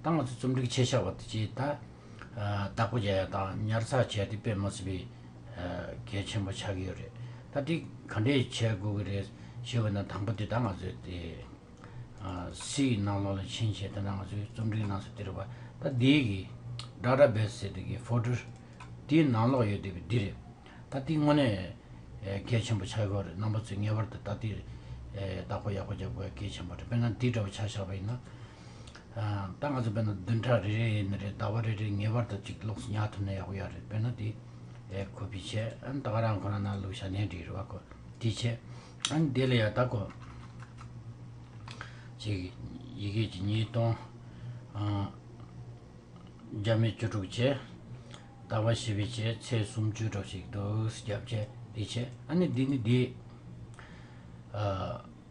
ད་ང་ཚོས་རྩོམ་སྒྲིག་བྱེད་བྱ་བ་དེ་ཇི་ལྟར་བདག་པོ་བྱ་ཡ་དང་ཉར་ཚགས་བྱས་ཏེ་སྤེལ་མ་ཟིན་པའི་གལ་ཆེན་པོ་ཆགས་ཀྱི་ཡོད་རེད། ད་སྒྲིག་ག་འདྲས་བྱས་དགོས་ཀྱི་རེད་ཞེས་བོས་ན་དང་པོ་དེ་ད་ང་ཚོས་དེ་སི་ཡི་ནང་ལོགས་ལ་ཕྱིན་ཞེས་དེ་ན་ང་ཚོས་རྩོམ་སྒྲིག་གནང་སོ་དེ་རེད་བ། ད་འདིའི་གི་སྒྲ་ར་བེད་སེ་དེ་གི Folder དེའི་ནང་ལོགས་ཡོད་དེ་བས་འདི་རེད། ད་དེ་དངོས་གནས་གལ་ཆེན་པོ་ཆགས་ཀྱི་རེད་རྣམ་པ་ཚོས་ངེས་པར་དུ་ད་དེ་བདག་པོ་ཡག་པོ་བྱ་དགོས་པ་གལ་ཆེན་པོ་རེད་དཔེར་ན་འདི་འདྲ་བ་ཆགས་བཞག་པ་ཡིན་ན། ད་ང་ཚོ་བོད་ནང་བདུན་ཕྲག་རེ་རེ་ཡིན་ནི་རེད་ཟླ་བ་རེ་རེ་ངེས་པར་དུ་གཅིག་ལོགས་སུ་ཉར་ཐུབ་ན་ཡག་པོ་ཡག་རེད་བོད་ནང་དེ་ཁོ་པའི་ཆེད་ཨན་ད་ག་རང་ཁོ་རང་ནང་ལུགས་ཞྭ་ནས་འདྲི་རུ་བ་ཁོ་དེའི་ཆེད་ཨན་དེ་ལ་ཡ་ད་ཁོ་གཅིག་ཡི་གེ་གཅིག་ཉིས་སྟོང་བརྒྱ་མེད་བཅུ་དྲུག་ཆེད་ཟླ་བ་བཞི་པའི་ཆེད་ཚེས་སུམ་བཅུ་ཕྲག་ཞིག་འདུག་སྐྱབས་ཆེད་དེའི་ཆེད་ཨན་དེ་ནི་དེ་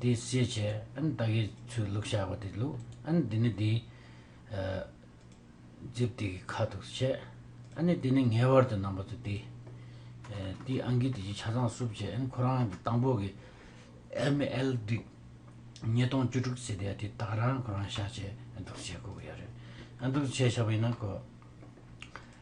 དེ་བསྲེས་བྱས་ཨན་ད་གེ་ཚོའི་ལུག་བྱ་བ་དེ་ལུག་ཨན་དེ་ནི་དེའི། རྗེབ་དེ་གི་ཁ་དོག་བྱས་ཨ་ནི་དེ་ནི་ངེས་བར་དུ་རྣམ་པ་ཚོ་དེ། དེའི་ཨན་གི་དེ་ཀྱི་ཆ་ཚང་སུབ་བྱས་ཨན་ཁོ་རང་གི་དང་པོ་གི། ML དིག། ཉིས་སྟོང་བཅུ་དྲུག་ཚེས་དེ་དེ་དག་རང་ཁོ་རང་བྱ་བྱས་ཨན་དུག་བྱས་ཁོ་གི་ཡ་རེད་ཨན་དུག་བྱས་བྱ་བ་ཡིན་ན་ཁོ།